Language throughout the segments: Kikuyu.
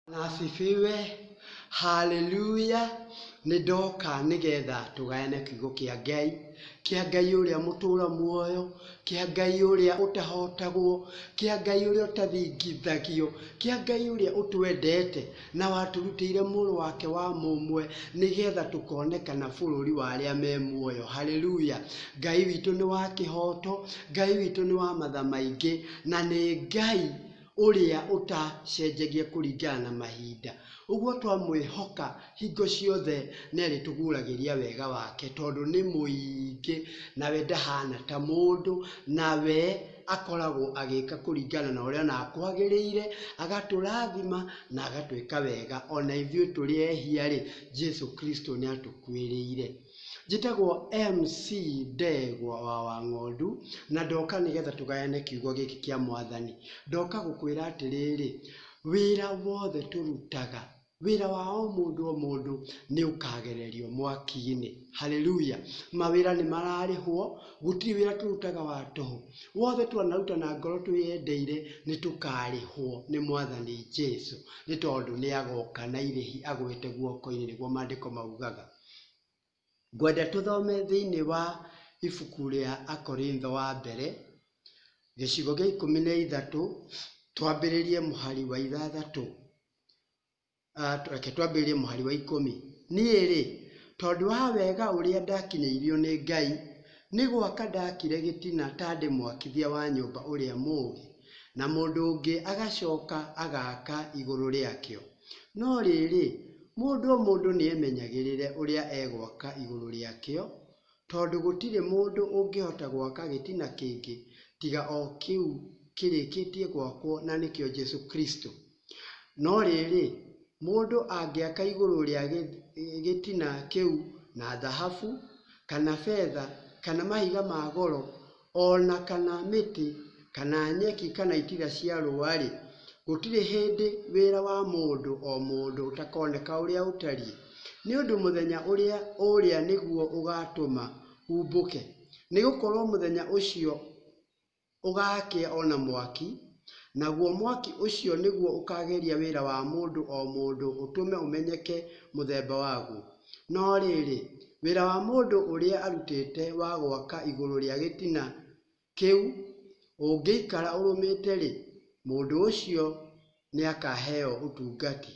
Bwana asifiwe. Haleluya. Nĩ ndoka nĩgetha tũgayane kiugo kĩa Ngai, kĩa Ngai ũrĩa mũtũra muoyo, kĩa Ngai ũrĩa ũtahotagwo, kĩa Ngai ũrĩa ũtathingithagio, kĩa Ngai ũrĩa ũtwendete na watũrutĩire mũrũ wake wa mũmwe nĩgetha tũkonekana bũrũri wa arĩa me muoyo. Haleluya. Ngai witũ nĩ wa kĩhoto, Ngai witũ nĩ wa matha maingĩ na nĩ Ngai ũrĩa ũtacenjagia kũringana na mahinda. Ũguo twamwĩhoka hingo ciothe nĩ arĩtũguũragĩria wega wake tondũ nĩ mũingĩ, nawe ndahana ta mũndũ, nawe akoragwo agĩka kũringana na ũrĩa onaga kwagĩrĩire, agatũrathima na agatwĩka wega. Ona ithuĩ tũrĩ ehia-rĩ, Jesu Kristo nĩ atũkuĩrĩire. Njĩtagwo MC Ndegwa wa Wang'ondu, na ndoka nĩgetha tũgayane kiugo gĩkĩ kĩa Mwathani. Ndoka gũkwĩra atĩrĩrĩ, wĩra wothe tũrutaga, wĩra wa o mũndũ o mũndũ nĩ ũkagererio mwaki-inĩ. Haleluya! Mawĩra nĩ mararĩhwo, gũtirĩ wĩra tũrutaga wa tũhũ. Wothe twanaruta na ngoro twĩyendeire, nĩ tũkarĩhwo nĩ Mwathani Jesu, nĩ tondũ nĩ agoka na irĩhi agwĩte guoko-inĩ, nĩguo maandĩko maugaga. Ngwenda tũthome thĩinĩ wa ibuku rĩa Akorintho wa mbere, gĩcigo gĩa ikũmi na ithatũ, twambĩrĩrie mũhari wa ithathatũ, ah, reke twambĩrĩrie mũhari wa ikũmi. Niĩ-rĩ, tondũ wa wega ũrĩa ndakinyĩirio nĩ Ngai, nĩ gwaka ndakire gĩtina ta ndĩ mwakithia wa nyũmba ũrĩa mũũgĩ, na mũndũ ũngĩ agacoka agaaka igũrũ rĩakĩo. No rĩĩrĩ, mũndũ o mũndũ nĩemenyagĩrĩre ũrĩa egwaka igũrũ rĩakĩo, tondũ gũtirĩ mũndũ ũngĩhota gwaka gĩtina kĩngĩ tiga o kĩu kĩrĩkĩtie gwakwo na nĩkĩo Jesũ Kristũ. No rĩĩrĩ, mũndũ angĩaka igũrũ rĩa gĩtina kĩu na thahabu, kana betha, kana mahiga ma goro, O na kana mĩtĩ, kana nyeki, kana itira cia rũũa-rĩ, gũtirĩ hĩndĩ wĩra wa mũndũ o mũndũ ũtakoneka ũrĩa ũtariĩ, nĩ ũndũ mũthenya ũrĩa ũũrĩa nĩguo ũgaatũma uumbũke, nĩ gũkorũo mũthenya ũcio ũgaakĩa o na mwaki, naguo mwaki ũcio nĩguo ũkaageria wĩra wa mũndũ o mũndũ ũtũme ũmenyeke mũthemba waguo. No rĩrĩ, wĩra wa mũndũ ũrĩa arutĩte wa gwaka igũrũ rĩa gĩtina kĩu ũngĩikara ũrũmĩte-rĩ, mũndũ ũcio nĩakaheo ũtungati.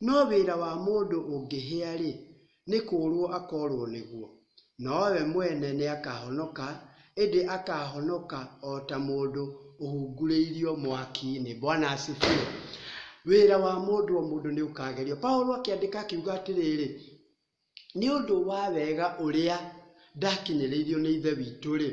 No wĩra wa mũndũ ũngĩhĩa-rĩ, nĩ kũũrũo akoorũo nĩguo, nowe mwene nĩakahonoka Ĩndĩ akaahonoka o ta mũndũ ũhungurĩirio mwaki-inĩ. Bwana asifiwe. Wĩra wa mũndũ o mũndũ nĩ ũkaagerio. Paulo akĩandĩka akiuga atĩrĩrĩ, Nĩ ũndũ wa wega ũrĩa ndakinyĩrĩirio nĩ Ithe witũ-rĩ,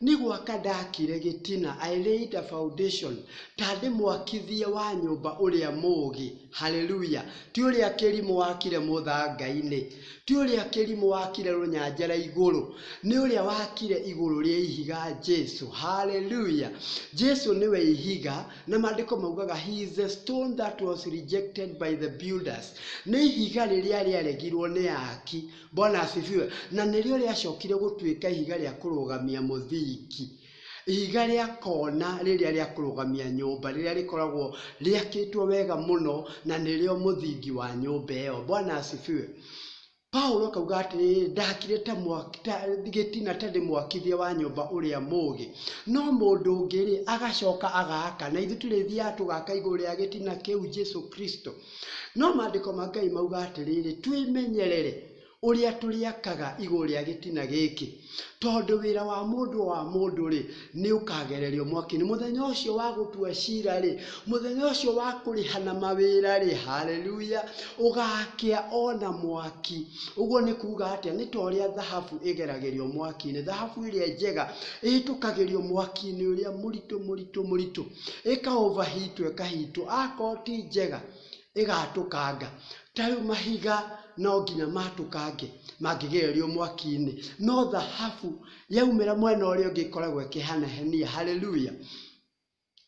nĩ gwaka ndakire gĩtina, I laid a foundation, ta ndĩ mwakithia wa nyũmba ũrĩa mũũgĩ, haleluya, ti ũrĩa kĩrimũ wakire mũthanga-inĩ. Ti ũrĩa kĩrimũ wakire rũnyanjara igũrũ, nĩ ũrĩa wakire igũrũ rĩa ihiga, Jesu. Haleluya! Jesu nĩwe ihiga, na maandĩko maugaga, He is the stone that was rejected by the builders. Nĩ ihiga rĩrĩa rĩaregirwo nĩ aaki. Bwana asifiwe. Na nĩrĩo rĩacokire gũtuĩka ihiga rĩa kũrũgamia mũthingi. Ihiga rĩa kona rĩrĩa rĩa kũrũgamia nyũmba, rĩrĩa rĩkoragwo rĩakĩtwo wega mũno, na nĩrĩo mũthingi wa nyũmba ĩyo. Bwana asifiwe. Paulo akauga atĩrĩrĩ, ndakire ta mwaki- ta- gĩtina ta ndĩ mwakithia wa nyũmba ũrĩa mũũgĩ, no mũndũ ũngĩ-rĩ, agacoka agaaka. Na ithuĩ tũrĩthiaga tũgaka igũrũ rĩa gĩtina kĩu, Jesu Kristo. No maandĩko ma Ngai mauga atĩrĩrĩ, twĩmenyerere ũrĩa tũrĩakaga igũrũ rĩa gĩtina gĩkĩ, tondũ wĩra wa mũndũ wa mũndũ-rĩ, nĩũkagererio mwaki-inĩ. Mũthenya ũcio wa gũtua cira-rĩ, mũthenya ũcio wa kũrĩhana mawĩra-rĩ, haleluya, ũgakĩa o na mwaki. Ũguo nĩ kuuga atĩa? Nĩ ta ũrĩa thahabu ĩgeragĩrio mwaki-inĩ. Thahabu ĩrĩa njega ĩhĩtũkagĩrio mwaki-inĩ ũrĩa mũritũ mũritũ mũritũ, ĩka overheat wo ĩkahitwo. Akorwo ti njega, ĩgatũkanga. Ta rĩu mahiga no nginya matũkange mangĩgererio mwaki-inĩ, no thahabu yaumĩra mwena ũrĩa ũngĩ ĩkoragwo ĩkĩhenahenia. Hallelujah!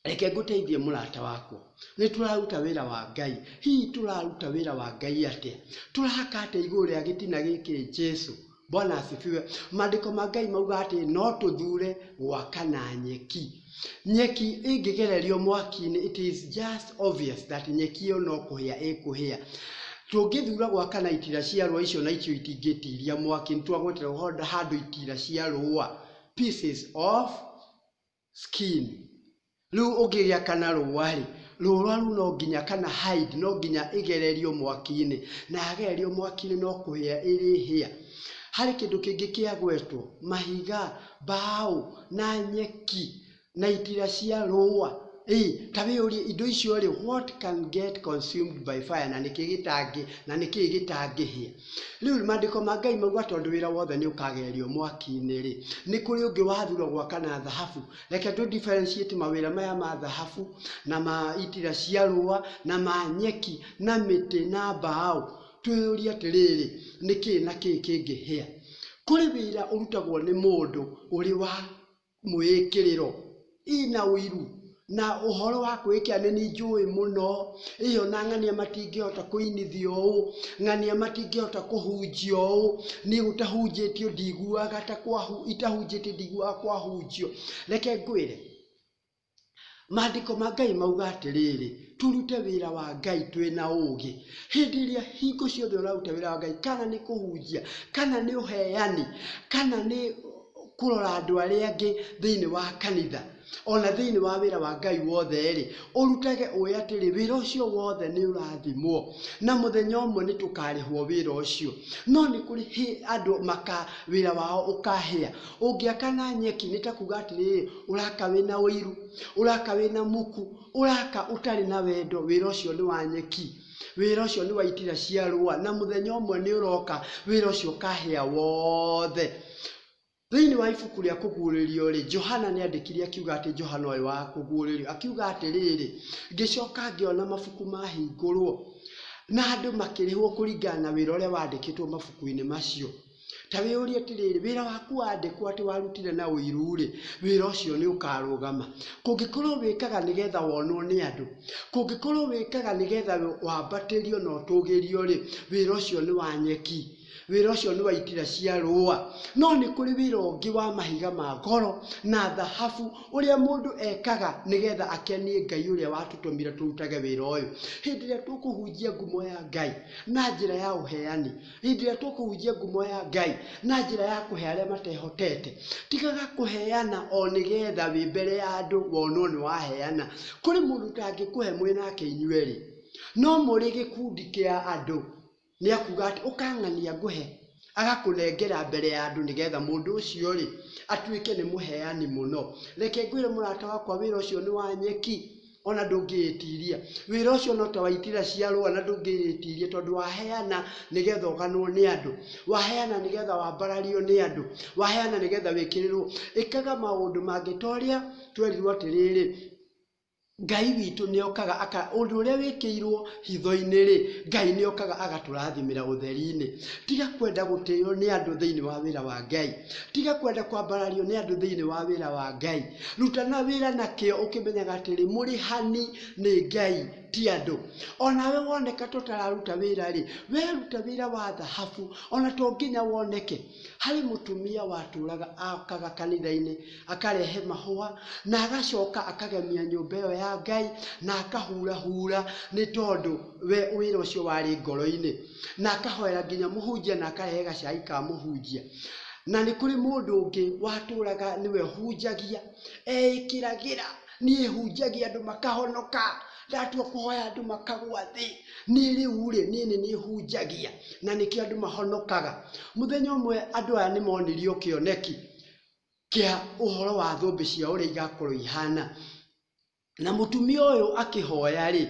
Reke ngũteithie mũrata wakwa, nĩ tũraruta wĩra wa Ngai. Hihi tũraruta wĩra wa Ngai atĩa? Tũrahaka atĩa igũrũ rĩa gĩtina gĩkĩ Jesu Bwana asifiwe. Maandĩko ma Ngai mauga atĩ no tũthure gwaka na nyeki. Nyeki ĩngĩgererio mwaki-inĩ, it is just obvious that nyeki ĩyo no kũhĩa ĩkũhĩa. Tũngĩthura gwaka na itira cia rũa icio na icio itingĩtiria mwaki, nĩ twagweterera handũ itira cia rũa, pieces of skin. Rĩu ũngĩgĩa kana rũũa rĩ, rũũa rũu no nginya kana hide no nginya ĩgererio mwaki-inĩ, na yagererio mwaki-inĩ no kũhĩa ĩrĩhĩa. Harĩ kĩndũ kĩngĩ kĩagwetwo, mahiga, mbaũ, na nyeki, na itira cia rũũa. Ĩĩ, ta wĩyũrie indo icio rĩ, what can get consumed by fire, na nĩkĩ gĩtangĩ, na nĩkĩ gĩtangĩhĩa? Rĩu maandĩko ma Ngai mauga tondũ wĩra wothe nĩ ũkagerio mwaki-inĩ-rĩ, nĩ kũrĩ ũngĩ wathurwo gwaka na thahabu. Reke tũ differentiate mawĩra maya ma thahabu na ma itira cia rũa na ma nyeki na mĩtĩ na mbaũ. Twĩyũrie atĩrĩrĩ, nĩ kĩĩ na kĩĩ kĩngĩhĩa? Kũrĩ wĩra ũrutagwo nĩ mũndũ ũrĩ wa mwĩĩkĩrĩro, ii na ũiru, na ũhoro wa kwĩĩkĩra nĩ niĩ njũĩ mũno, ĩĩ o na ng'ania matingĩhota kũinithio ũũ, ng'ania matingĩhota kũhunjio ũũ, niĩ gũtahunjĩtio ndiiguaga ta kwa, itahunjĩtio ndiiguaga kwahunjio. Reke ngwĩre. Maandĩko ma Ngai mauga atĩrĩrĩ, tũrute wĩra wa Ngai twĩ na ũũgĩ. Hĩndĩ ĩrĩa hingo ciothe ũraruta wĩra wa Ngai, kana nĩ kũhunjia, kana nĩ ũheani, kana nĩ kũrora andũ arĩa angĩ thĩinĩ wa kanitha, ona thĩinĩ wa wĩra wa Ngai wothe-rĩ, ũrutage ũĩ atĩrĩ, wĩra ũcio wothe nĩ ũrathimwo, na mũthenya ũmwe nĩ tũkarĩhwo wĩra ũcio. No nĩ kũrĩ andũ wĩra wao ũkahĩa. Ũngĩaka na nyeki nĩ ta kuga atĩrĩrĩ, ũraka wĩna ũiru, ũraka wĩna muku, ũraka ũtarĩ na wendo, wĩra ũcio nĩ wa nyeki, wĩra ũcio nĩ wa itira cia rũa, na mũthenya ũmwe nĩ ũroka wĩra ũcio ũkahĩa wothe. Thĩinĩ wa ibuku rĩa kũguũrĩrio rĩ, Johana nĩ andĩkire akiuga atĩ Johana ũyũ wa kũguũrĩrio, akiuga atĩrĩrĩ, ngĩcoka ngĩona mabuku mahingũrwo, na andũ makĩrĩhwo kũringana na wĩra ũrĩa wandĩkĩtwo mabuku-inĩ macio. Ta wĩyũrie atĩrĩrĩ, wĩra waku wandĩkwo atĩ warutire na ũiru-rĩ, wĩra ũcio nĩ ũkarũgama? Kũngĩkorũo wĩkaga nĩgetha wonwo nĩ andũ, kũngĩkorũo wĩkaga nĩgetha wambatĩrio na ũtũgĩrio-rĩ, wĩra ũcio nĩ wa nyeki, wĩra ũcio nĩ wa itira cia rũũa. No nĩ kũrĩ wĩra ũngĩ wa mahiga ma goro na thahabu, ũrĩa mũndũ ekaga nĩgetha akenie Ngai ũrĩa watũtũmire tũrutage wĩra ũyũ. Hĩndĩ ĩrĩa tũkũhunjia ngumo ya Ngai na njĩra ya ũheani, Hĩndĩ ĩrĩa tũkũhunjia ngumo ya Ngai na njĩra ya kũhe arĩa matehotete, tigaga kũheana o nĩgetha wĩ mbere ya andũ wonwo nĩ waheana. Kũrĩ mũndũ ũtangĩkũhe mwĩ nake inyuerĩ, no mũrĩ gĩkundi kĩa andũ, nĩakuga atĩ, ũkang'ania ngũhe, agakũnengera mbere ya andũ nĩgetha mũndũ ũcio-rĩ, atuĩke nĩ mũheani mũno. Reke ngwĩre mũrata wakwa wĩra ũcio nĩ wa nyeki. ona ndũngĩĩtiria. Wĩra ũcio no ta wa itira cia rũa na ndũngĩĩtiria tondũ waheana nĩgetha ũganwo nĩ andũ. Waheana nĩgetha wambarario nĩ andũ. Waheana nĩgetha wĩkĩrĩrwo. Ĩkaga maũndũ mangĩ ta ũrĩa twerirwo atĩrĩrĩ, Ngai witũ nĩokaga aka, ũndũ ũrĩa wĩkĩirwo hitho-inĩ-rĩ, Ngai nĩokaga agatũrathimĩra ũtheri-inĩ. Tiga kwenda gũtĩo nĩ andũ thĩinĩ wa wĩra wa Ngai. Tiga kwenda kwambarario nĩ andũ thĩinĩ wa wĩra wa Ngai. rutana wĩra na kĩo ũkĩmenyaga atĩrĩ mũrĩhani nĩ ngai ti andũ onawe woneka tũtararuta wĩra-rĩ weruta wĩra wa thahabu ona to nginya woneke harĩ mũtumia watũraga akaga kanitha-inĩ akarehe mahũa na agacoka akagemia nyũmba ĩyo ya ngai na akahurahura nĩ tondũ we wĩra ũcio warĩ ngoro-inĩ na akahoera nginya mũhunjia na akarehe gacai ka mũhunjia na nĩ kũrĩ mũndũ ũngĩ watũraga nĩwe hunjagia eĩkĩragĩra niĩ hunjagia andũ makahonoka ndatua kũhoya andũ makagwa thĩ niĩ rĩu rĩ niĩ nĩ niĩ hunjagia na nĩkĩo andũ mahonokaga mũthenya ũmwe andũ aya nĩ monirio kĩoneki kĩa ũhoro wa thũmbĩ ciao ũrĩa igakorwo ihana Na mũtumia ũyũ akĩhoya-rĩ,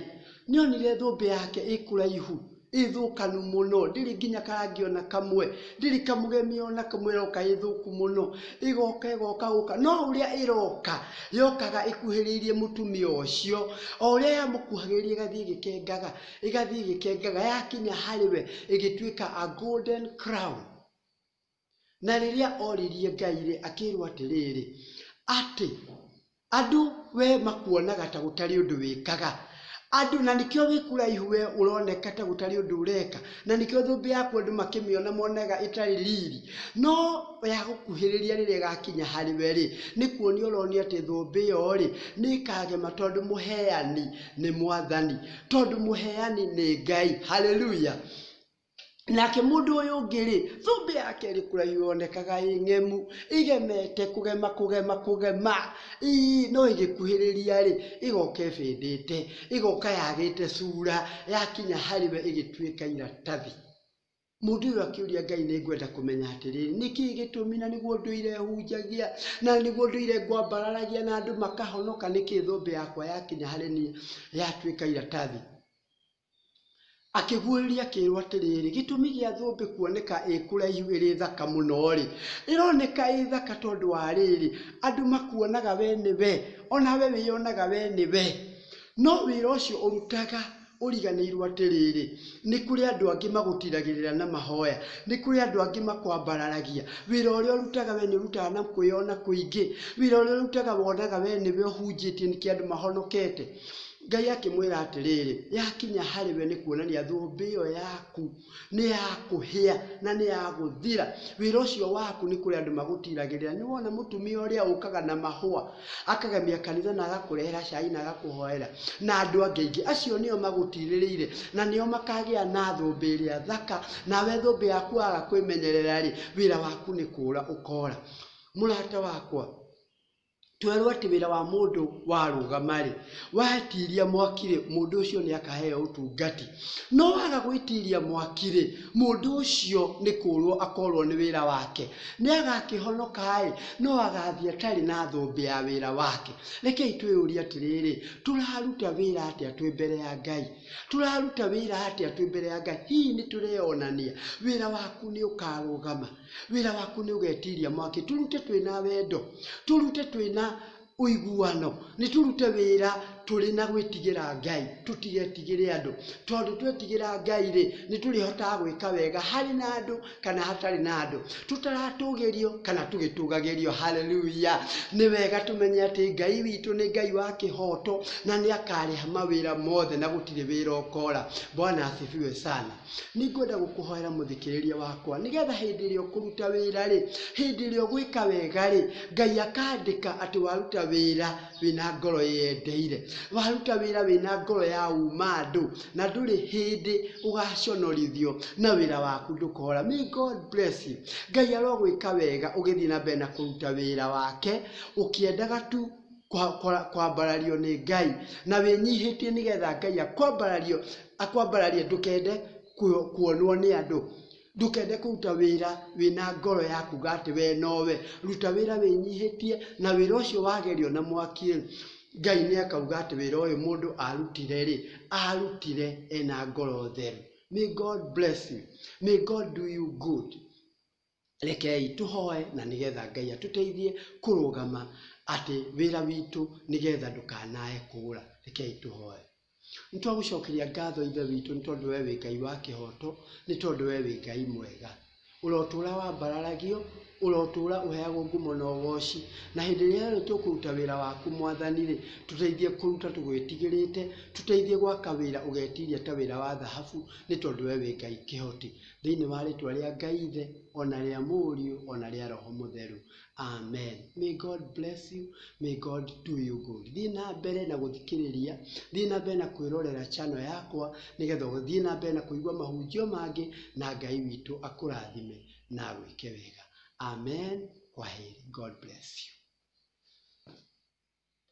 nĩonire thũmbĩ yake ĩ kũraihu, ĩ thũkanu mũno, ndĩrĩ nginya karangi ona kamwe, ndĩrĩ kamũgemio ona kamwe, ĩroka ĩ thũku mũno, ĩgoka ĩgoka gũka, no ũrĩa ĩroka, yokaga ĩkuhĩrĩirie mũtumia ũcio, o ũrĩa yamũkuhagĩrĩria ĩgathiĩ ĩgĩkengaga, ĩgathiĩ ĩgĩkengaga, yakinya harĩ we, ĩgĩtuĩka a golden crown. Na rĩrĩa oririe Ngai-rĩ, akĩĩrwo atĩrĩrĩ, atĩ, Andũ we makuonaga ta gũtarĩ ũndũ wĩkaga, andũ, na nĩkĩo wĩ kũraihu we ũroneka ta gũtarĩ ũndũ ũreka, na nĩkĩo thũmbĩ yaku andũ makĩmĩona monaga ĩtarĩ riri, no yagũkuhĩrĩria rĩrĩa ĩgakinya harĩ we-rĩ, nĩ kuonia ũronia atĩ thũmbĩ ĩyo-rĩ, nĩ ĩkagema tondũ mũheani nĩ Mwathani, tondũ mũheani nĩ Ngai. Hallelujah. Nake mũndũ ũyũ ũngĩ-rĩ, thũmbĩ yake ĩrĩ kũraihu yonekaga ĩ ng'emu, ĩgemete kũgema kũgema kũgema, ii, no ĩgĩkuhĩrĩria-rĩ, ĩgoka ĩbĩndĩte, ĩgoka yagĩte cura, yakinya harĩ we ĩgĩtuĩka iratathi. Mũndũ ũyũ akĩũria Ngai, nĩ ngwenda kũmenya atĩrĩrĩ, nĩ kĩĩ gĩtũmi na nĩguo ndũire hunjagia, na nĩguo ndũire ngwambararagia na andũ makahonoka, nĩ kĩĩ thũmbĩ yakwa yakinya harĩ niĩ yatuĩka iratathi? Akĩguũrĩria akĩĩrwo atĩrĩrĩ, gĩtũmi gĩa thũmbĩ kuoneka ĩ kũraihu ĩrĩ thaka mũno-rĩ, ĩroneka ĩ thaka tondũ wa rĩrĩ, andũ makuonaga we nĩ we, o nawe wĩyonaga we nĩ we. No wĩra ũcio ũrutaga ũriganĩirwo atĩrĩrĩ, nĩ kũrĩ andũ angĩ magũtiragĩrĩra na mahoya, nĩ kũrĩ andũ angĩ makwambararagia. Wĩra ũrĩa ũrutaga we nĩ ũrutaga na kwĩyona kũingĩ, wĩra ũrĩa ũrutaga wonaga we nĩ we ũhunjĩtie nĩkĩo andũ mahonokete. Ngai akĩmwĩra atĩrĩrĩ, yakinya harĩ we nĩ kuonania thũmbĩ ĩyo yaku nĩ ya kũhĩa na nĩ ya gũthira. Wĩra ũcio waku nĩ kũrĩ andũ magũtiragĩrĩra. Nĩ wona mũtumia ũrĩa ũkaga na mahũa, akagemia kanitha na agakũrehera cai na agakũhoera, na andũ angĩ aingĩ. Acio nĩo magũtirĩrĩire na nĩo makagĩa na thũmbĩ ĩrĩa thaka, nawe thũmbĩ yaku waga kwĩmenyerera-rĩ, wĩra waku nĩ kũũra ũkora. Mũrata wakwa, Twerwo atĩ wĩra wa mũndũ warũgama rĩ, watiria mwaki rĩ, mũndũ ũcio nĩ akaheo ũtungati. No waga gwĩtiria mwaki rĩ, mũndũ ũcio nĩ kũũrwo akoorwo nĩ wĩra wake. Nĩ agakĩhonoka ĩ, no agathiĩ atarĩ na thũmbĩ ya wĩra wake. Rekei twĩyũrie atĩrĩrĩ, tũraruta wĩra atĩa twĩ mbere ya Ngai? Tũraruta wĩra atĩa twĩ mbere ya Ngai? Hihi nĩ tũreyonania? Wĩra waku nĩ ũkarũgama? wĩra waku nĩ ũgetiria mwaki tũrute twĩna wendo tũrute twĩna ũiguano nĩ tũrute wĩra tũrĩ na gwĩtigĩra ngai tũtigetigĩre andũ tondũ twetigĩra ngai rĩ nĩ tũrĩhotaga gwĩka wega harĩ na andũ kana hatarĩ na andũ tũtaratũgĩrio kana tũgĩtũgagĩrio haleluya nĩ wega tũmenye atĩ ngai witũ nĩ ngai wa kĩhoto na nĩ akarĩha mawĩra mothe na gũtirĩ wĩra ũkora bwana asifiwe sana nĩ ngwenda gũkũhoera mũthikĩrĩria wakwa nĩgetha hĩndĩ ĩrĩa ũkũruta wĩra rĩ hĩndĩ ĩrĩa ũgwĩka wega rĩ ngai akandĩka atĩ waruta wĩra wĩna ngoro ĩyendeire waruta wĩra wĩna ngoro ya uma andũ na ndũrĩ hĩndĩ ũgaconorithio na wĩra waku ndũkora may god bless you ngai arogwĩka wega ũgĩthiĩ na mbere na kũruta wĩra wake ũkĩendaga tu kwambarario nĩ Ngai na wĩnyihĩtie nĩgetha Ngai akwambarario, akwambararie ndũkende kuonwo nĩ andũ, ndũkende kũruta wĩra wĩna ngoro ya kuga atĩ we nowe, ruta wĩra wĩnyihĩtie na wĩra ũcio wagerio na mwaki rĩ, Ngai nĩ akauga atĩ wĩra ũyũ mũndũ arutire rĩ, arutire ena ngoro theru. May God bless you. May God do you good. Rekei tũhoe na nĩgetha Ngai atũteithie kũrũgama atĩ wĩra witũ nĩgetha ndũkanae kũũra. Rekei tũhoe. Nĩ twagũcokeria ngatho Ithe witũ nĩ tondũ we wĩ Ngai wa kĩhoto, nĩ tondũ we wĩ Ngai mwega. Ũrotũra wambararagio, ũrotũra ũheagwo ngumo na ũgoci. Na hĩndĩ ĩrĩa yothe tũkũruta wĩra waku Mwathani-rĩ, tũteithie kũruta tũgwĩtigĩrĩte, tũteithie gwaka wĩra ũgetiria ta wĩra wa thahabu nĩ tondũ we wĩ Ngai kĩhoti. Thĩinĩ wa rĩtwa rĩa Ngai Ithe, o na rĩa Mũriũ, o na rĩa Roho Mũtheru. Amen. May God bless you. May God do you good. Thiĩ na mbere na gũthikĩrĩria, thiĩ na mbere na kwĩrorera channel yakwa, nĩgetha ũthiĩ na mbere na kũigua mahunjio mangĩ, na Ngai witũ akũrathime na agwĩke wega. Amen. Kwaheri. God bless you.